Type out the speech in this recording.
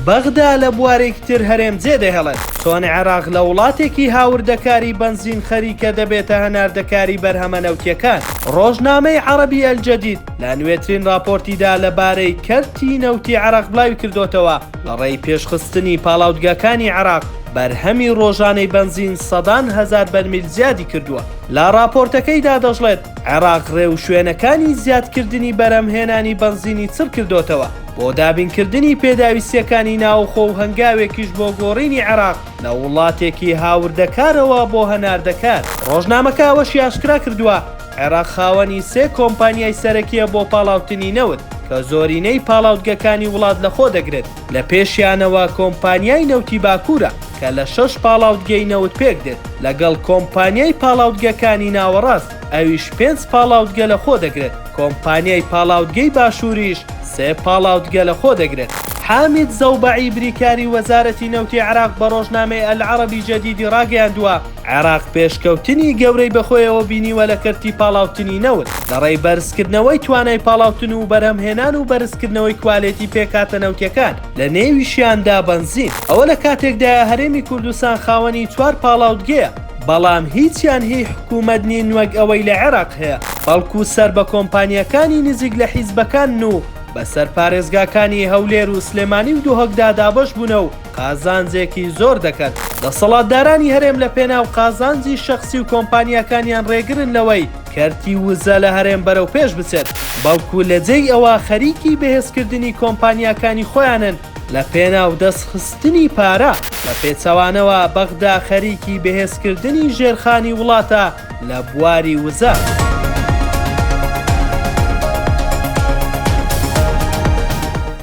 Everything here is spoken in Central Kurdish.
بەغدا لە بوارێکی تر هەرێم جێدەهێڵێت، چۆن عێراق لە وڵاتێکی هاوردەکاری بەنزین خەریکە دەبێتە هەناردەکاری بەرهەمە نەوتییەکان. ڕۆژنامەی عەڕەبی ئەلجەدید لە نوێترین ڕاپۆرتیدا لەبارەی کەرتی نەوتی عێراق بڵاویکردۆتەوە، لە ڕێی پێشخستنی پاڵاودگاکانی عێراق، بەرهەمی ڕۆژانەی بەنزین سەدان هەزار بەرمیل زیادی کردووە. لە ڕاپۆرتەکەیدا دەشڵێت، عێراق ڕێوشوێنەکانی زیادکردنی بەرهەمهێنانی بەنزینی چڕکردۆتەوە. بۆ دابینکردنی پێداویستیەکانی ناوخۆ و هەنگاوێکیش بۆ گۆڕینی عێراق لە وڵاتێکی هاوردەکارەوە بۆ هەناردەکار. ڕۆژنامەکە ئەوەشی ئاشکرا کردووە، عێراق خاوەنی سێ کۆمپانیای سەرەکییە بۆ پاڵاوتنی نەوت، کە زۆرینەی پاڵاوتگەکانی وڵات لەخۆ دەگرێت، لە پێشیانەوە کۆمپانیای نەوتی باکوورە کە لە شەش پاڵاوتگەی نەوت پێکدێت، لەگەڵ کۆمپانیای پاڵاوتگەکانی ناوەڕاست. ئەویش پێنج پاڵاوتگە لەخۆ دەگرێت، کۆمپانیای پاڵاوتگەی باشووریش سێ پاڵاوتگە لەخۆ دەگرێت. حامید زەوبەعی بریکاری وەزارەتی نەوتی عێراق بە ڕۆژنامەی ئەلعەرەبی جەدیدی ڕاگەیاندووە، عێراق پێشکەوتنی گەورەی بەخۆیەوە بینیوە لە کەرتی پاڵاوتنی نەوت، لەڕێی بەرزکردنەوەی توانای پاڵاوتن و بەرهەمهێنان و بەرزکردنەوەی کوالێتی پێکهاتە نەوتییەکان، لەنێویشیاندا بەنزین. ئەوە لە کاتێکدایە هەرێمی کوردستان خاوەنی چوار پاڵاوتگەیە. بەڵام هیچیان هی حکوومەت نین وەک ئەوەی لە عێراق هەیە، بەڵکو سەر بە کۆمپانیاکانی نزیک لە حیزبەکانن و بەسەر پارێزگاکانی هەولێر و سلێمانی و دهۆکدا دابەش بوونە و قازانجێکی زۆر دەکەن. دەسەڵاتدارانی هەرێم لە پێناو قازانجی شەخسی و کۆمپانیاکانیان رێگرن لەوەی کەرتی وزە لە هەرێم بەرەو پێش بچێت، بەڵکو لە جێی ئەوە خەریکی بەهێزکردنی کۆمپانیاکانی خۆیانن لە پێناو دەست خستنی پارە، بە پێچەوانەوە بەغدا خەریکی بەهێز کردنی ژێرخانی وڵاتە لە بواری وزە.